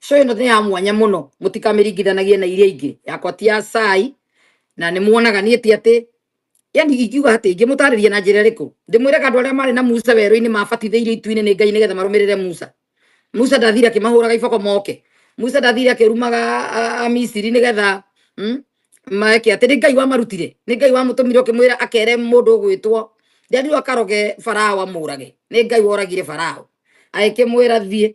so ĩno nĩ ya mwanya mũno mũtikamĩringithanagie na iria ingĩ yakwa ti ya cai na nĩ muonaga niĩ ti atĩ yani ingiuga atĩ ingĩmũtarĩria na njĩra ĩrĩkũ ndĩmwĩraga andũ arĩa marĩ na musa werũ-inĩ mabatithĩirio itu-inĩ nĩ ngai nĩgetha marũmĩrĩre musa musa ndathire akĩmahũraga iboko moke musa ndathire akĩrumaga a- amisiri nĩgetha mm, maeke atĩ nĩ ngai wamarutire nĩ ngai wamũtũmire ũkĩmwĩra akere mũndũ ũgwĩtwo nderirwo akaroge farao amũrage nĩ ngai woragire farao agĩkĩmwĩra thiĩ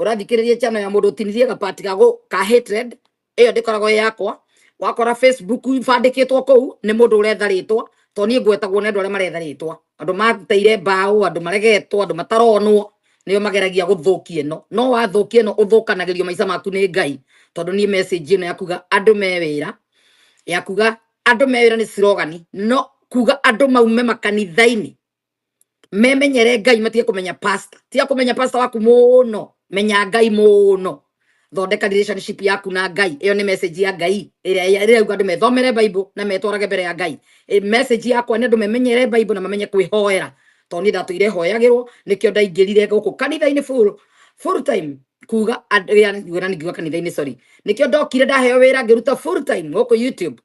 ũrathikĩrĩria channel ya mũndũ ũtinirie gabati gago ka hatred ĩyo ndĩkoragwo ĩ yakwa wakora facebook ibandĩkĩtwo kũu nĩ mũndũ ũretha rĩtwa to niĩ ngwetagwo nĩ andũ arĩa maretha rĩtwa andũ mateire mbaũ andũ maregetwo andũ mataronwo nĩo mageragia gũthũkia ĩno no wathũkia ĩno ũthũkanagĩrio maica maku nĩ ngai tondũ niĩ message ĩno yakuga andũ me wĩra yakuga andũ me wĩra nĩ slogani no kuga andũ maume makanitha-inĩ memenyere ngai matige kumenya pastor tiga kumenya pastor waku muno menya ngai muno thondeka relationship yaku na ngai iyo ni message ya ngai ira ira uga andu methomere bible na metwarage mbere ya ngai e message yakwa ni andu memenyere bible na mamenye kwihoera to ni ndatu ire hoyagirwo nikio ndaingirire guku kanitha ini full full time kuga andria ngwira ni ngiuga kanitha ini sorry nikio ndokire ndaheo wira ngiruta full time guku youtube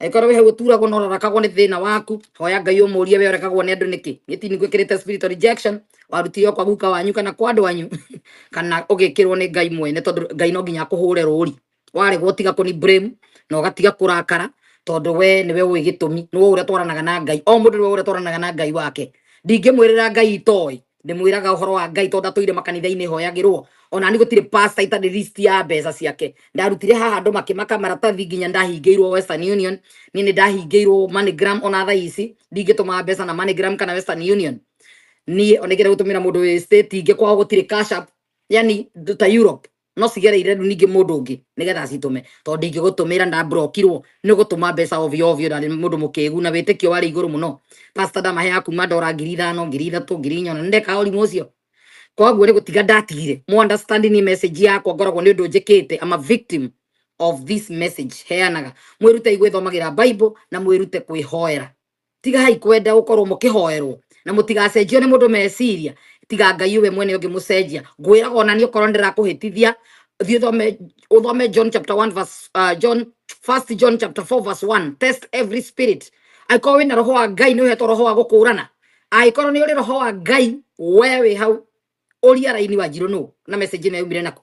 Angĩkorwo wĩ hau ũturagwo na ũrarakagwo nĩ thĩna waku, hoya Ngai ũmũrie we ũrekagwo nĩ andũ nĩkĩ. Gĩtini gwĩkĩrĩte spirit of rejection, warutire o kwa guka wanyu kana kwa andũ anyu kana ũgĩkĩrwo nĩ Ngai mwene tondũ Ngai no nginya akũhũre rũũri. Waregwo ũtiga kũni blame na ũgatiga kũrakara tondũ we nĩwe ũĩ gĩtũmi, nĩwe ũĩ ũrĩa twaranaga na Ngai. O mũndũ nĩwe ũĩ ũrĩa twaranaga na Ngai wake. Ndingĩmwĩrĩra Ngai itoĩ, ndimwiraga uhoro wa ngai tondu atũire makanitha-inĩ hoyagĩrwo ona ni gũtirĩ pasta itarĩ list ya mbeca ciake ndarutire haha andũ makĩmaka maratathi nginya ndahingĩirwo western union niĩ nĩ ndahingĩirwo moneygram ona thaa ici ndingĩtũma mbeca na moneygram kana western union niĩ ona ingĩenda gũtũmĩra mũndũ wĩ state ingĩ kwao gũtirĩ cash app yani ndũ ta europe no cigereire rĩu ningĩ mũndũ ũngĩ nĩgetha citũme tondũ ndingĩgũtũmĩra na brokirwo nĩ gũtũma mbeca ovyo ovyo na mũndũ mũkĩgu na wĩtĩkio warĩ igũrũ mũno pastor ndamahe ya kuma ndora ngiri ithano ngiri ithatũ ngiri inya na nĩndekaga ũrimũ ũcio koguo nĩ gũtiga ndatigire mu understand ni message yakwa ngoragwo nĩ ũndũ njĩkĩte I'm a victim of this message heanaga mwĩrute gwĩthomagĩra bible na mwĩrute kwĩhoera tigahai kwenda gukorwo mukihoerwo na mutigacenjio ni mundu meciria tiga ngai we mwene ungi mucenjia ngwiraga ona ni ukorwo ndirakuhitithia thi uthome uthome john chapter 1 verse uh, john first john chapter 4 verse 1 test every spirit angĩkorwo wĩna roho wa ngai nĩ ũhetwo roho wa gũkũũrana angĩkorwo nĩ ũrĩ roho wa ngai we wĩ hau ũria raini wa njirũ nũ na message ĩno yaumire naku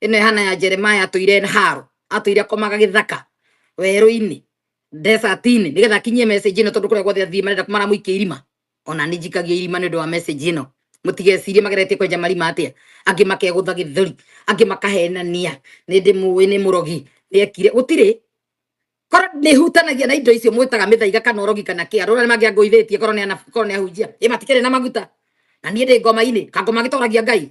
ino ihana ya jeremaya atũire haro atũire akomaga gĩthaka werũ-inĩ desert-inĩ nĩgetha akinyie message ĩno tondũ kũrĩa guothe athiĩ marenda maramũikia irima ona nĩ njikagia irima nĩ ũndũ wa message ĩno mũtigecirie mageretie kwenja marima atĩa angĩ makegũtha gĩthũri angĩ makahenania nĩ ndĩ mũĩ nĩ mũrogi nĩekire gũtirĩ korwo nĩ hutanagia na indo icio mwĩtaga mĩthaiga kana ũrogi kana kĩa rũra nĩ mangĩangũithĩtie korwo nĩ anabi korwo nĩ ahunjia ĩ matikĩrĩ na maguta na niĩ ndĩ ngoma-inĩ kangoma gĩtoragia ngai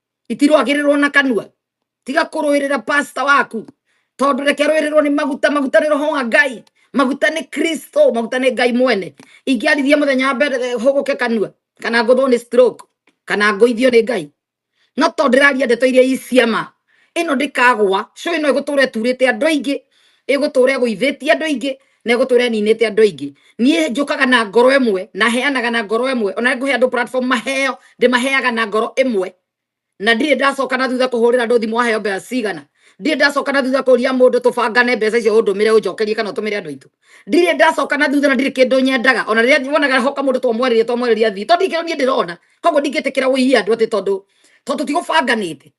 itirwagĩrĩrwo na kanua tiga kũrũĩrĩra pasta waku tondũ reke rũĩrĩrwo nĩ maguta maguta nĩ roho wa ngai maguta nĩ kristo maguta nĩ ngai mwene ingĩarithia mũthenya wa mbere eh, hũgũke kanua kana ngũthwo nĩ stroke kana ngũithio nĩ ngai no tondũ ndĩraria ndeto iria i cia ma ĩno ndĩkagwa cũĩ no ĩgũtũra ĩturĩte andũ aingĩ ĩgũtũra ĩgũithĩtie andũ aingĩ negũtũra ninĩte andũ aingĩ niĩ njũkaga na ngoro ĩmwe na heanaga na ngoro ĩmwe ona ngũhe andũ platform maheo ndĩmaheaga na ngoro ĩmwe na ndirĩ ndacoka na thutha kũhũrĩra andũ thimũ waheo mbeca cigana ndirĩ ndacoka na thutha kũria mũndũ tũbangane mbeca icio ũndũmĩre ũnjokerie kana ũtũmĩre andũ aitũ ndirĩ ndacoka na thutha na ndirĩ kĩndũ nyendaga ona rĩrĩa wonaga hoka mũndũ twamwarĩria twamwarĩria thii tondũ ndikĩrwo niĩ ndĩrona koguo ndingĩtĩkĩra ũiye andũ atĩ tondũ tondũ tigũbanganĩte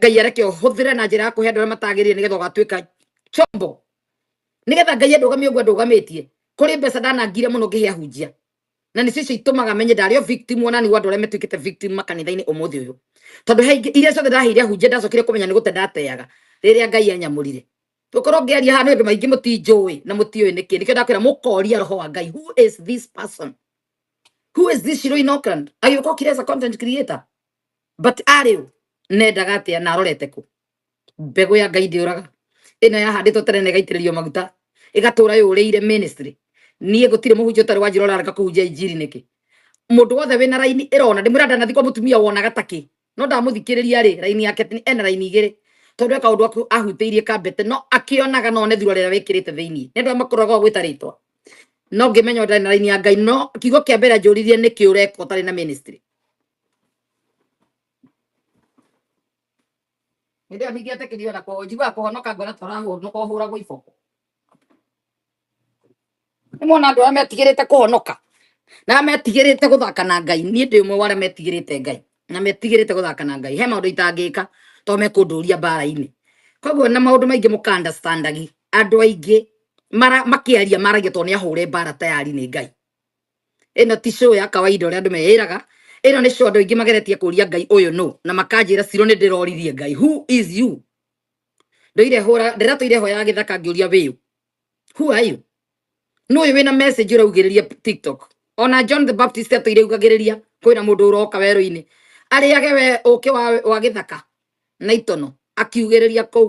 ngai areke ũhũthĩre na njĩra ya kũhe andũ arĩa matagĩrĩire nĩgetha ũgatuĩka chombo nĩgetha ngai andũgamie ũguo andũgamĩtie kũrĩ mbeca ndanangire mũno ngĩhe ahunjia na nĩ cicio itũmaga menye ndarĩ o victim ona nĩ andũ arĩa metuĩkĩte victim makanitha-inĩ ũmũthĩ ũyũ tondũ he ingĩ iria ciothe ndaheire ahunjia ndacokire kũmenya nĩ gũte ndateaga rĩrĩa ngai anyamũrire tũkorwo ngĩaria haha nĩ ũndũ maingĩ mũtinjũĩ na mũtiũĩ nĩkĩ nĩkĩo ndakwĩra mũkoria roho wa ngai who is this person who is this Shiroi Norcland agĩũka okire as a content creator but arĩ ũ nendaga atĩa na arorete kũ mbegũ ya ngai ndĩũraga ĩno yahandĩtwo tene na ĩgaitĩrĩrio maguta ĩgatũra yũrĩire ministry niĩ gũtirĩ mũhunjia ũtarĩ wanjĩra ũrarega kũhunjia injiri nĩkĩ mũndũ wothe wĩna raini ĩrona ndĩmwĩra ndanathi kwa mũtumia wonaga takĩ no ndamũthikĩrĩria rĩ raini yake ti- ena raini igĩrĩ tondũ eka ũndũ aku- ahutĩirie kambete no akĩonaga no one thura rĩrĩa wĩkĩrĩte thĩinĩ nĩ andũ arĩa makũraga o gwĩta rĩtwa no ngĩmenya ũtarĩ na raini ya ngai no kiugo kĩa mbere anjũririe nĩ kĩũreka ũtarĩ na ministry hĩndĩ ĩyo ningĩ etĩkĩrio na kũ- njiguaga kũhonoka ngona tũrahonoka ũhũragwo iboko nĩ mona andũ arĩa metigĩrĩte kũhonoka na arĩa metigĩrĩte gũthaka na ngai niĩ ndĩ ũmwe wa arĩa metigĩrĩte ngai na metigĩrĩte gũthaka na ngai he maũndũ itangĩka to mekũndũria mbara-inĩ koguo na maũndũ maingĩ mũka understandagi andũ aingĩ mara- makĩaria maragia to nĩ ahũre mbara tayari nĩ ngai ĩno ti show ya kawaida ũrĩa andũ meĩraga ĩno nĩ show andũ aingĩ mageretie kũria ngai ũyũ nũ na makanjĩra ciro nĩ ndĩroririe ngai who is you ndoire hũra ndĩratũire hoya ya gĩthaka ngĩũria wĩyũ who are you nũ ũyũ wĩna message ũraugĩrĩria tiktok ona john the baptist atũire ugagĩrĩria kwĩna mũndũ ũroka werũ-inĩ arĩage we ũkĩ wa, wa gĩthaka na itono akiugĩrĩria kũu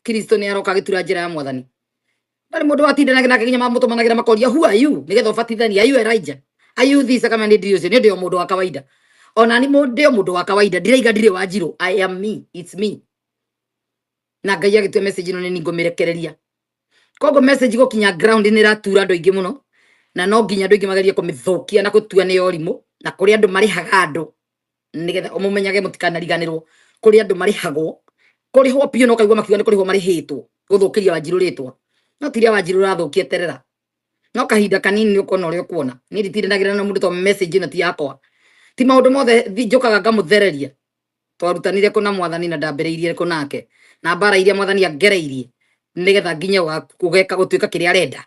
kristo nĩ aroka agĩtura njĩra ya mwathani Ndari mundu watindanaga nake nginya mamutumanagira makoria who are you nigetha ubatithania are you Elijah are you this kama ni ndirio ni ndio mundu wa kawaida ona ni mundu mundu wa kawaida ndiraiga ndire wa njiro I am me it's me na ngai agĩtua message ĩno nĩ niĩ ngũmĩrekereria koguo message gũkinya ground nĩ ĩratura andũ aingĩ mũno na no nginya andũ aingĩ magerie kũmĩthũkia na gũtua nĩ yorimũ na kũrĩ andũ marĩhaga andũ nigetha umumenyage mutikanariganirwo kuri andu marihagwo kurihwo piu no kaigwa makiuga ni kurihwo marihitwo guthukiria wanjiru ritwa no tiria wanjiru rathukia terera no kahinda kanini ni ukona uria ukuona ni nditiranagira na mundu to message na ti yakwa ti maundu mothe njukaga ngamuthereria twarutanire kå na mwathani na ndambä kå nake na mbara iria mwathani angereirie nä getha nginye kå geka gå tuä ka kä rä a arenda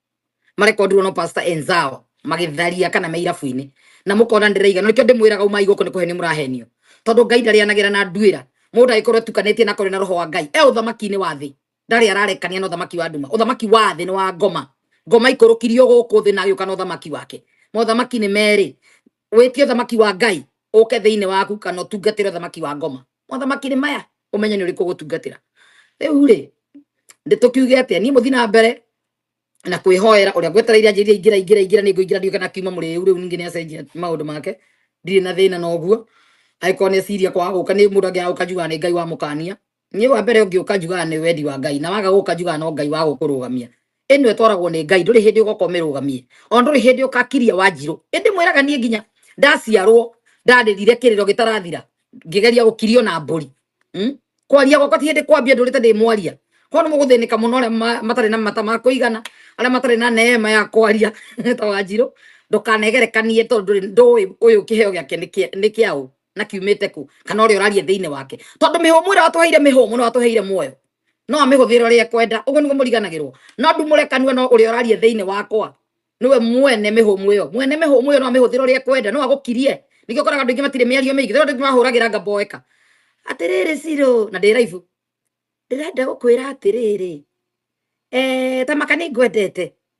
marekondirwo no pastor enzao magitharia kana me irabu-inĩ na mũkona ndĩraiga nĩkĩo ndĩmwĩraga umai gũkũ nĩ kũhenio mũrahenio tondũ ngai ndarĩanagĩra na nduĩra mũndũ agĩkorwo etukanĩtie na kũrĩ na roho wa ngai e ũthamaki-inĩ wa thĩ ndarĩ ararekania na ũthamaki wa nduma ũthamaki wa thĩ nĩ wa ngoma ngoma ikũrũkirio gũkũ thĩ na agĩũka na ũthamaki wake mothamaki nĩ merĩ wĩtie ũthamaki wa ngai ũke thĩinĩ waku kana ũtungatĩre ũthamaki wa ngoma mothamaki nĩ maya ũmenye nĩ ũrĩkũ gũtungatĩra rĩu rĩ ndĩ tũkiuge atĩa niĩ mũthi na mbere na kwĩhoera ũrĩa ngwetereire anjĩria ingĩra ingĩra ingĩra nĩ ngũingĩra ndiũke na kiuma mũrĩu rĩu ningĩ nĩ acenjia maũndũ make ndirĩ na thĩna na ũguo angĩkorwo nĩ eciria kwaga gũka nĩ mũndũ angĩaga gũka njugaga nĩ ngai wamũkania niĩ wa mbere ũngĩũka njugaga nĩ wendi wa ngai na waga gũka njugaga no ngai wa gũkũrũgamia ĩno ĩtwaragwo nĩ ngai ndũrĩ hĩndĩ ũgoka ũmĩrũgamie ona ndũrĩ hĩndĩ ũkakiria wanjirũ ĩndĩ mwĩraga niĩ nginya ndaciarwo ndarĩrire kĩrĩro gĩtarathira ngĩgeria gũkirio na mbũri Mm? kwaria gwakwa ti hĩndĩ kwambia ndũrĩte ndĩ mwaria kono nĩ mũgũthĩnĩka mũno arĩa ma- matarĩ na mata ma kũigana arĩa matarĩ na neema ya kwaria ta wanjirũ ndũkanegerekanie tondũ ndũrĩ ndũĩ ũyũ kĩheo gĩake nĩ kĩa- nĩ kĩa ũ na kiumĩte kũ kana ũrĩa ũraria thĩinĩ wake tondũ mĩhũmũ ĩrĩa watũheire mĩhũmũ na watũheire muoyo no amĩhũthĩre ũrĩa ekwenda ũguo nĩguo mũriganagĩrwo no ndumũre kanua no ũrĩa ũraria thĩinĩ wakwa niwe mwene mĩhũmũ ĩyo mwene mĩhũmũ ĩyo no amĩhũthĩre ũrĩa ekwenda no agũkirie nĩkĩo ũkoraga andũ aingĩ matirĩ mĩario mĩingĩ tondũ andũ aingĩ mahũragĩra ngamba o eka atĩrĩrĩ cirũ na ndĩ raibu ndĩrenda gũkwĩra atĩrĩrĩ eh, ta maka nĩ ngwendete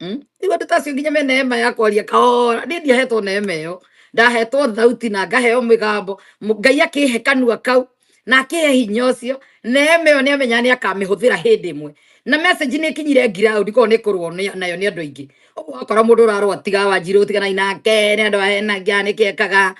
Mm? Igua ndutacio nginya me neema ya kwaria kahora ni ndiahetwo neema iyo ndahetwo thauti na ngaheo migambo Mu- ngai akihe kanua kau na akihe hinya ucio neema iyo ni amenya ni akamihuthira hindi imwe na message ni ikinyire ground ko ni kurwo ni- nayo ni andu aingi uguo wakora mundu urarwa tiga wanjiru tiganai nake ni andu ahenagia ni kiekaga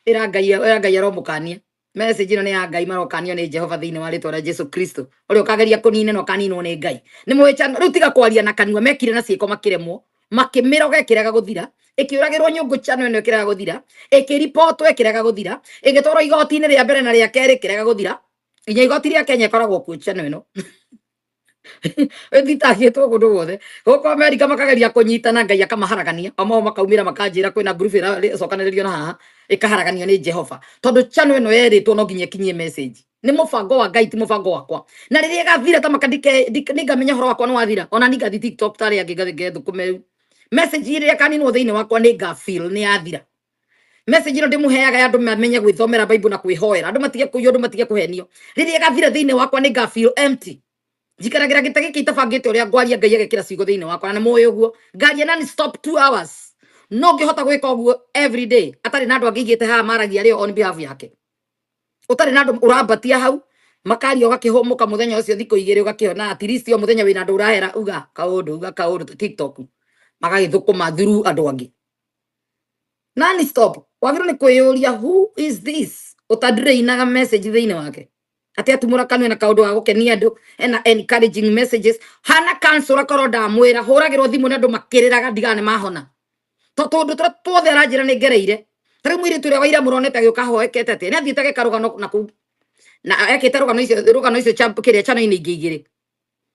ira ngai ira ngai aromukania message ĩno nĩ ya ngai marokanio nĩ jehova thĩinĩ wa rĩtwa rĩa jesu kristo ũrĩa ũkageria kũnina na ũkaninwo nĩ ngai nĩ mũhĩtano rĩu tiga kwaria na kanua mekire na ciĩko makĩremwo makĩmĩroga ĩkĩrega gũthira ĩkĩũragĩrwo nyũngũ chano ĩno ĩkĩrega gũthira ĩkĩripotwo ĩkĩrega gũthira ĩgĩtwarwo igoti-inĩ rĩa mbere na rĩa kerĩ ĩkĩrega gũthira nginya igoti rĩa kenya ĩkoragwo kuo chano ĩno ĩtitahie to hũndũ wothe gũkũ amerika makageria kũnyitana ngai akamaharagania amao makaumĩra makanjĩra kwĩna ngurubu ĩracokanĩrĩrio na haha ĩkaharaganio nĩ jehova tondũ chano ĩno yerĩtwo no nginya ĩkinyie message nĩ mũbango wa ngai ti mũbango wakwa na rĩrĩa ĩgathira ta maka ndike- ndike- nĩngamenya horo wakwa nĩ wathira ona ningathi tiktok tarĩa angĩ ngathi ngethũkũme rĩu message ĩrĩa ĩkaninwo thĩinĩ wakwa nĩngafeel nĩ yathira message ĩno ndĩmũheaga andũ mamenye gwĩthomera bible na kwĩhoera andũ matige kũiywo andũ matige kũhenio rĩrĩa ĩgathira thĩinĩ wakwa nĩ ngafeel empty njikaragira gita giki itabangite uria ngwaria ngai agekira ciugo thiini wakwa na muyu guo ngaria nani stop 2 hours no ngihota gwika uguo every day atari na andu angigite ha maragia rio on behalf yake utari na andu urambatia hau makaria ugakihumuka muthenya ucio thiku igiri ugakiona at least o muthenya wina andu urahera uga kaundu uga kaundu ta tiktok magagithukuma through andu angi nani stop wagirwo ni kwiyuria who is this utadreinaga message thiini wake ati atumura kanwe na kaundu wa gukenia andu ena encouraging messages hana kansura korwo ndamwira huragirwo thimu na andu makiriraga ndigana ni mahona to tundu turia tuothe aranjira ni ngereire tari mwiritu uria waira muronete agiuka hoekete ati ni athiite ageka rugano na kuu na ekite rugano icio rugano icio cha kiria chano-ini ingĩ igĩrĩ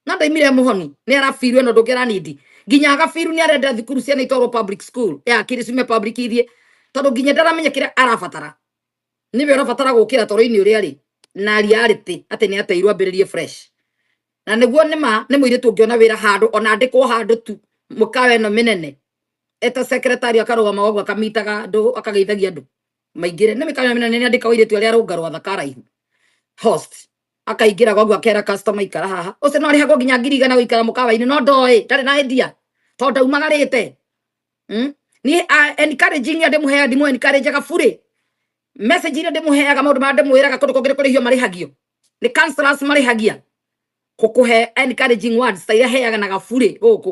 na ndaimire muhoni ni arabiru ino ndungera nindi nginya agabiru ni arenda thukuru ciana itwarwo public school ya kiri cime public ithie tondu nginya ndaramenya kira arabatara niwe urabatara gukira toro-ini uria ri na reality ati ni ateirwo ambiririe fresh na niguo nĩ ma nĩ mũirĩtu ũngĩona wĩra handũ ona andĩkwo handũ tu mũkawa ĩno mĩnene eta secretary akarũgama wagwo akamitaga andũ akageithagia andũ maingĩre nĩ mĩkawa ĩno mĩnene nĩ andĩka ũirĩtu arĩa arũnga rwatha karaihu host akaingĩra gwagu akera customer ikara haha ũcio no arĩhagwo nginya ngiri igana gũikara mũkawa-inĩ no ndoĩ ndarĩ na endia tondũ ndaumagarĩte hmm? niĩ encouraging andũ mũheaga ndimũ encourageaga burĩ message iria ndĩmũheaga maũndũ marĩa ndĩmwĩraga kũndũ kũngĩ kũrĩhio marĩhagio nĩ counselors marĩhagia kũkũhe encouraging words ta iria heaga na gaburĩ gũkũ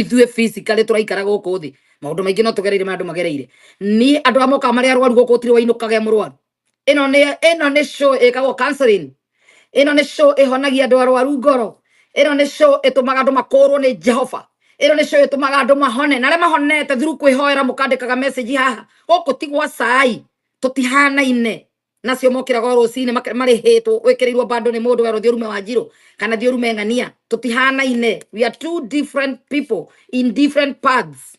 ithuĩ physically tũraikara gũkũ thĩ maũndũ maingĩ no tũgereire ma andũ magereire niĩ andũ amwe ka marĩa arwaru gũkũ tiri wainũkage mũrwaru ĩno nĩ ĩno nĩ show ĩkagwo counseling ĩno nĩ show ĩhonagia andũ arwaru ngoro ĩno nĩ show ĩtũmaga andũ makũrwo nĩ jehova ĩno nĩ show ĩtũmaga andũ mahone na arĩa mahonete through kwĩhoera mũkandĩkaga message haha gũkũ ti gwa cai tũtihanaine nacio mokira go rucini marihitwo wikirirwo bando ni mundu wero thiurume wa njiro kana thiurume ng'ania tutihanaine we are two different people in different paths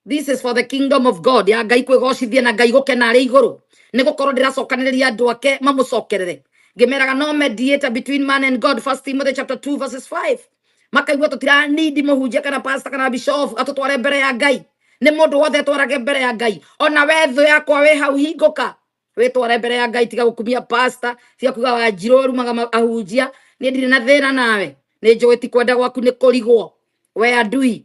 this is for the kingdom of god ya ngai kwigocithia na ngai gukena ari iguru ni gukorwo ndiracokaniriria andu ake mamucokerere ngimeraga no mediator between man and god first timothy chapter 2 verses 5 makaigua tutiranindi muhunjia kana pasta kana bishofu atutware mbere ya ngai nĩ mũndũ wothe twarage mbere ya ngai ona we thũ yakwa wĩ hau hingũka wĩtware mbere ya ngai tiga gũkumia pasta tiga kuga wanjirũ arumaga ma- ahunjia niĩ ndirĩ na thĩna nawe nĩ njũĩ ti kwenda gwaku nĩ kũrigwo we andui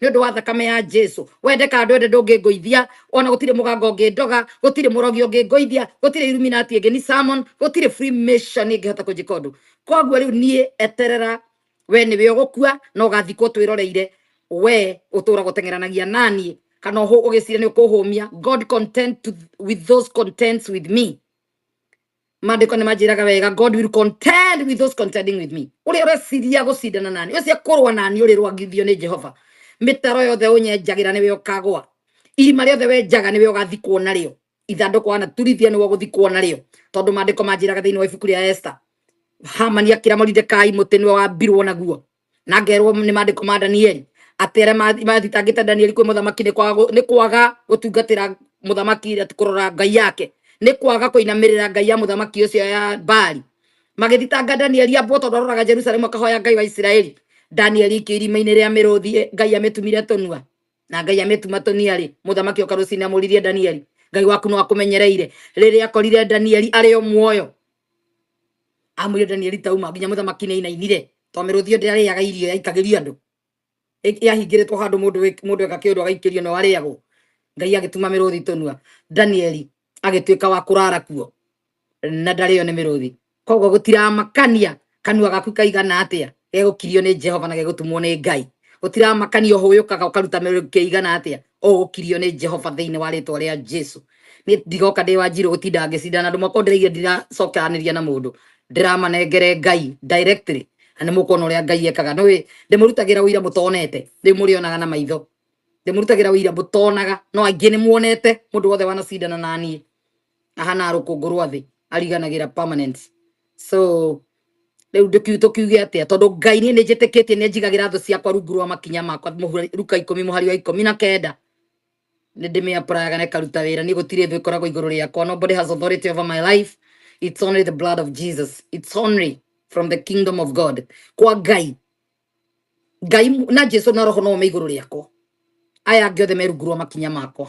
nĩ ũndũ wa thakame ya Jesu wende kana ndwende ndũngĩngũithia ona gũtirĩ mũganga ũngĩndoga gũtirĩ mũrogi ũngĩngũithia gũtirĩ illuminati ĩngĩ ni salmon gũtirĩ freemason ĩngĩhota kũnjĩka ũndũ koguo rĩu niĩ eterera we nĩwe ũgũkua na ũgathikwo twĩroreire we ũtũũraga ũteng'eranagia naniĩ kana ũhũ- ũgĩcira nĩ ũkũhũmia god content to, with those contents with me mandĩko nĩ manjĩraga wega god will contend with those contending with me ũrĩa ũreciria gũcindana nani ũcio kũrũa nani ũrĩ rwagithio nĩ jehova mĩtaro yothe ũnyenjagĩra nĩwe ũkagwa irima rĩothe wenjaga nĩwe ũgathikwo narĩo ithandũkũ wanaturithia nĩwe ũgũthikwo narĩo tondũ mandĩko manjĩraga thĩinĩ wa ibuku rĩa esta hamani akĩra moridekai mũtĩ nĩwe wambirwo naguo na ngerwo nĩ mandĩko ma Danieli atĩ arĩa mathi- mathitangĩte Danieli kwĩ mũthamaki nĩ kwaga gũ- nĩ kwaga gũtungatĩra mũthamaki ĩrĩa ti kũrora ngai yake nĩ kwaga kũinamĩrĩra ngai ya mũthamaki ũcio ya Baali magĩthitanga Danieli ambwo tondũ aroraga Jerusalemu akahoya ngai wa Isiraeli Danieli ikĩ irima-inĩ rĩa mĩrũthi ĩ, ngai amĩtumire tũnua na ngai amĩtuma tũniarĩ mũthamaki oka rũcinĩ amũririe Danieli ngai waku no akũmenyereire rĩrĩa akorire Danieli arĩ o muoyo amwire Danieli tauma nginya mũthamaki nĩ inainire to mĩrũthi ndĩ arĩaga irio yaikagĩrio andũ yahingĩrĩtwo handũ mũndũ mũndũ eka kĩndũ agaikĩrio no arĩagwo ngai agĩtuma mĩrũthi tũnua Danieli agĩtuĩka wa kũrara kuo na ndarĩo nĩ mĩrũthi koguo gũtiramakania kanua gaku kaigana atia gegukirio ni jehova na gegutumwo ni ngai utiramakania uhuyukaga ukaruta miruki kiigana atia ugukirio ni jehova thiini wa ritwa ria jesu ni ndigoka ndi wa njiro gutinda ngicinda na andu makwa ndiraigire ndiracokeraniria na mundu ndiramanengere ngai directly na nimukuona uria ngai ekaga ni ndimurutagira wira mutonete riu murionaga na maitho ndimurutagira wira mutonaga no aingi nimuonete mundu wothe wanacindana nanie ahana rũkũngũ rwa thĩ ariganagĩra permanence so rĩu ndũkiu tũkiuge atĩa tondũ ngai niĩ nĩ njĩtĩkĩtie nĩ njigagĩra thũ ciakwa rungu rwa makinya makwa mũhura- ruka ikũmi mũhari wa ikũmi na kenda nä ndä mä apuraga na ĩkaruta wä ra niä gå tirä thå ĩkoragwo igå rå rä akwa nobody has authority over my life it's only the blood of jesus it's only from the kingdom of god kwa ngai ngai mu- na jesu na roho no me iguru riakwa aya angĩ othe merungurwo makinya makwa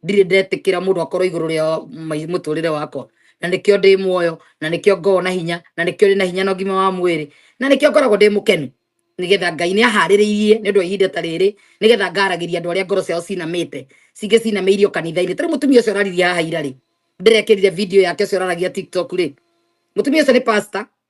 ndirĩ ndetĩkĩra mũndũ akorwo igũrũ rĩa mai- mũtũrĩre wakwa na nĩkĩo ndĩ muoyo na nĩkĩo ngorwo na hinya na nĩkĩo ndĩ na hinya na ũgima wa mwĩrĩ na nĩkĩo ngoragwo ndĩ mũkenu nĩgetha ngai nĩ aharĩrĩirie nĩ ũndũ wa ihinda ta rĩrĩ nĩgetha ngaragĩria andũ arĩa ngoro ciao cinamĩte cingĩ cinamĩirio kanitha-inĩ tarĩ mũtumia ũcio ũraririe haha ira rĩ ndĩrekĩrire video yake ũcio ũraragia tiktok rĩ mũtumia ũcio nĩ pastor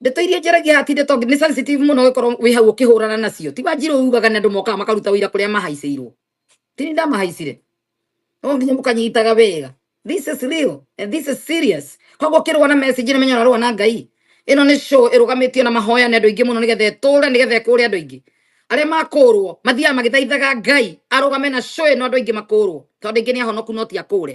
ndeto iria njaragia haha ti ndeto nĩ sensitive mũno gĩkorwo wĩ hau ũkĩhũrana nacio ti wanjirũ ugaga nĩ andũ mokaga makaruta ũira kũrĩa mahaicĩirwo ti nĩ ndamahaicire no nginya mũkanyitaga wega this is real and this is serious koguo ũkĩrũa na message nĩ menya ũrarũa na ngai ĩno nĩ show ĩrũgamĩtio na mahoya nĩ andũ aingĩ mũno nĩgetha ĩtũre nĩgetha ĩkũre andũ aingĩ arĩa makũrwo mathiaga magĩthaithaga ngai arũgame na show ĩno andũ aingĩ makũrwo tondũ aingĩ nĩ ahonoku no ti akũre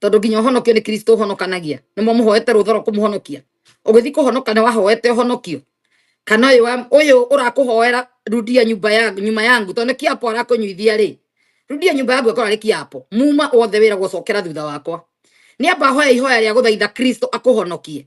tondu nginya ũhonokio nĩ kristo ũhonokanagia nĩ mũmũhoete rũtha rwa kũmũhonokia ũgĩthiĩ kũhonoka nĩ wahoete ũhonokio kana ũyũ wa- ũyũ ũrakũhoera rudia nyumba ya nyuma yangu tondũ nĩ kĩapo arakũnyuithia rĩ rudia nyumba yangu ĩkorwo arĩ kĩapo muma wothe wĩra gũcokera thutha wakwa nĩ amba hoya ihoya rĩa gũthaitha kristo akũhonokie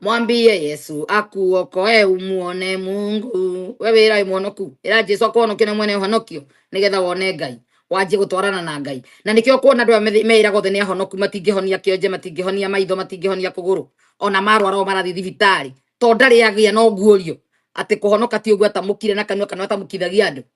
mwambie yesu akuokoe umuone mungu we wĩra mũhonoku ĩra jesu akũhonokie na mwene ũhonokio nĩgetha wone ngai wanjie gũtwarana na ngai na nĩkĩo kuona andũ aya methi- meĩraga othe nĩ ahonoku matingĩhonia kĩonje matingĩhonia maitho matingĩhonia kũgũrũ ona marwara o marathiĩ thibitarĩ to ndarĩ agĩa no guũrio atĩ kũhonoka ti ũguo atamũkire na kanua kana atamũkithagia andũ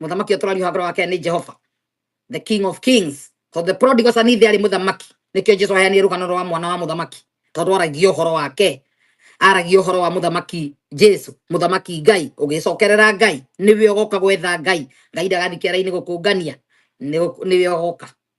mũthamaki ũyũ tũrariũha ngoro wake nĩ jehova the king of kings so the prodigal son ithe arĩ mũthamaki nĩkĩo jesu aheanire rũgano rwa mwana wa mũthamaki tondũ aragia ũhoro wake aragia ũhoro wa mũthamaki jesu mũthamaki ngai ũgĩcokerera ngai nĩwe ũgoka gwetha ngai ngai ndagathiĩ kĩara-inĩ gũkũngania nĩ- nĩwe ũgoka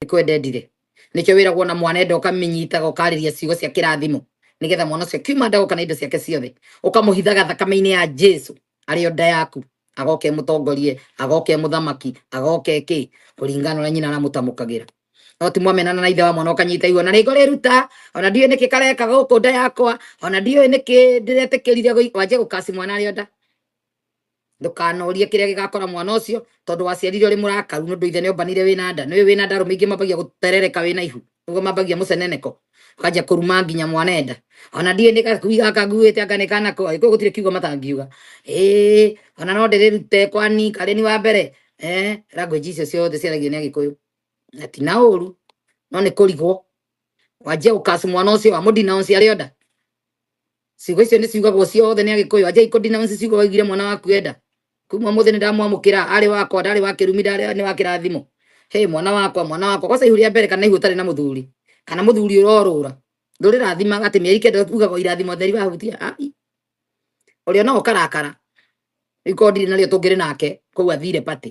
nĩkwendendire nĩkĩo wĩragwo na mwana enda ũkamĩnyitaga ũkarĩria ciugo cia kĩrathimo nĩgetha mwana ũcio kiuma ndago kana indo ciake ciothe ũkamũhithaga thakame-inĩ ya jesu arĩ o nda yaku agoke mũtongorie agoke mũthamaki agoke kĩ kũringana ũrĩa nyina aramũtamũkagĩra no ti mwamenana na ithe wa mwana ũkanyita igua na rĩngĩ ũrĩruta ona ndiũĩ nĩkĩ kareka gũkũ nda yakwa ona ndiũĩ nĩkĩ ndĩretĩkĩrire gũi- wanjie gũkaci mwana arĩ o nda ndukanorie kiria gigakora mwana ucio tondu waciarire uri murakaru nundu ithe niombanire wina nda niwe wina nda rume ingi mambagia guterereka wina ihu niguo mambagia muceneneko ukanjia kuruma nginya mwana enda ona ndie ni gakui gaka nguite anga ni kana ko ko gutire kiugo matangiuga eh ona no ndirirute kwani kare ni wa mbere eh language icio ciothe ciaragio ni agikuyu na ti na uru no ni kurigwo wanjia gukacu mwana ucio wa mudina ucio ari oda ciugo icio nĩ ciugagwo ciothe nĩ agĩkũyũ anja ikå denounce ciugo waigire mwana waku enda kuma må thä nä ndamwamũkĩra arĩ wakwa ndarĩ wa kĩrumi ndarĩ nĩ wa kĩrathimo he mwana wakwa mwana wakwa kwaca ihu rĩa mbere kana ihu ũtarĩ na mũthuri kana mũthuri ũrorũra ndũrĩ rathima atĩ mĩeri kenda ugaga irathimo theri wahutia ai ũrĩa no ũkarakara rĩu korwo ndirĩ narĩo tũngĩrĩ nake koguo athire party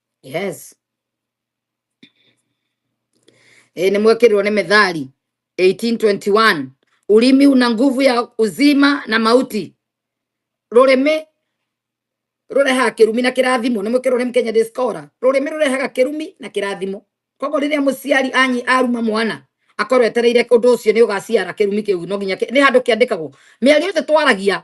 yes e, nimwekirwo ni methali 1821 ulimi una nguvu ya uzima na mauti rurimi rurehaga kirumi na kirathimo nimwikirwo ni mkenya discora rurimi rurehaga kirumi na kirathimo koguo riria muciari anyi aruma mwana akorwo etereire undu ucio ni ugaciara kirumi kiu no nginya ni handu kiandikagwo miario yothe twaragia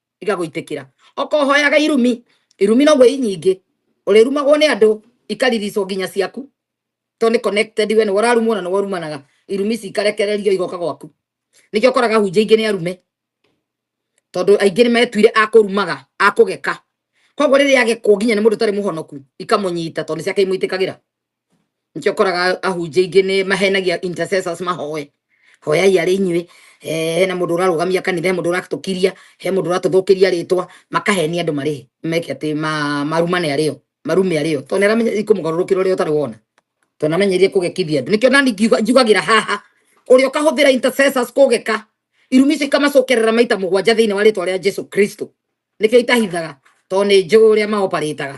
igagũitĩkĩra okohoyaga irumi irumi noguo i nyingĩ ũrĩrumagwo nĩ andũ ikaririco nginya ciaku to nĩ connected we nĩ wararumwo na nĩ warumanaga irumi ici ikarekererio igoka gwaku nĩkĩo ũkoraga hunjia ingĩ nĩ arume tondũ aingĩ nĩ metuire akũrumaga akũgeka koguo rĩrĩa agekwo nginya nĩ mũndũ ũtarĩ mũhonoku ikamũnyita tondũ nĩ ciake imũitĩkagĩra nĩkĩo ũkoraga ahunjia aingĩ nĩ mahenagia intercessors mahoe hoyai arĩ inyuĩ eh, hena mũndũ ũrarũgamia kanitha he mũndũ ũratũkiria he mũndũ ũratũthũkĩria rĩtwa makahenia andũ marĩ meke atĩ ma- marumane arĩo marume arĩo tondũ nĩaramenya ikũmũgarũrũkĩra ũrĩa ũtarĩ wona tondũ namenyerie kũgekithia andũ nĩkĩo nani ngiuga- njugagĩra haha ũrĩa ũkahũthĩra intercessors kũgeka irumi icio ikamacokerera maita mũgwanja thĩinĩ wa rĩtwa rĩa jesu kristo nĩkĩo itahithaga tondũ nĩ njũĩ ũrĩa maoparĩtaga